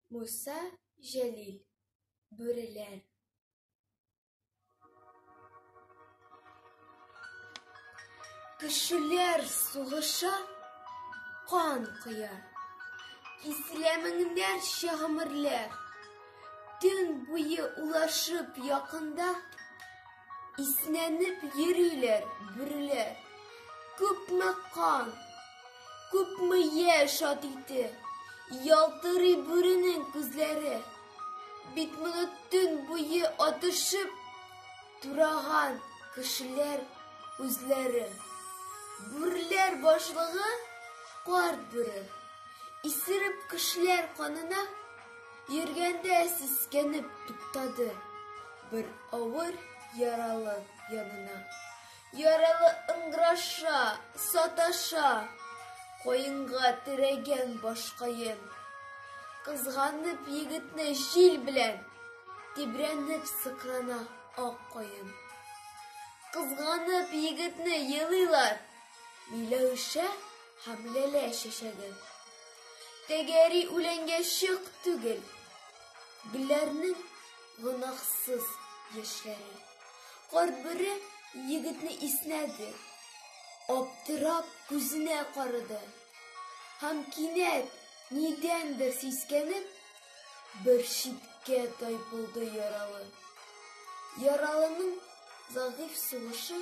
Муса Җәлил Бүреләр Кешеләр сугыша, кан коя Киселә меңнәрчә гомерләр Төн буе улашып якында Иснәнеп йөриләр бүреләр. Күпме кан, күпме яшь ат ите, Ялтырый бүренең күзләре. Бит моны төн буе атышып, Тураган кешеләр үзләре. Бүреләр башлыгы, карт бүре. Исереп кешеләр канына, Йөргәндә сискәнеп туктады. Бер авыр яралы янына. Яралы ыңгыраша, саташа. Каенга терәгән башкаен. Кызганып егетне җил белән. Тибрәнеп сыкрана ак каен. Кызганып егетне елыйлар. Миләүшә һәм ләлә чәчәге. Тәгәри үләнгә чык түгел. Гөлләрнең гөнаһсыз яшьләре. Карт бүре егетне иснәде. Аптырап күзенә карады. Һәм кинәт, нидәндер сискәнеп, бер читкә тайпылды яралы. Яралының зәгыйфь сулышы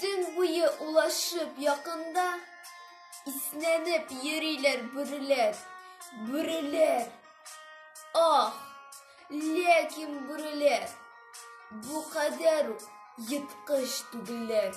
Төн буе улашып якында, Иснәнеп йөриләр бүреләр, бүреләр. Ах, ләкин бүреләр, бу кадәр үк еткыч түгелләр.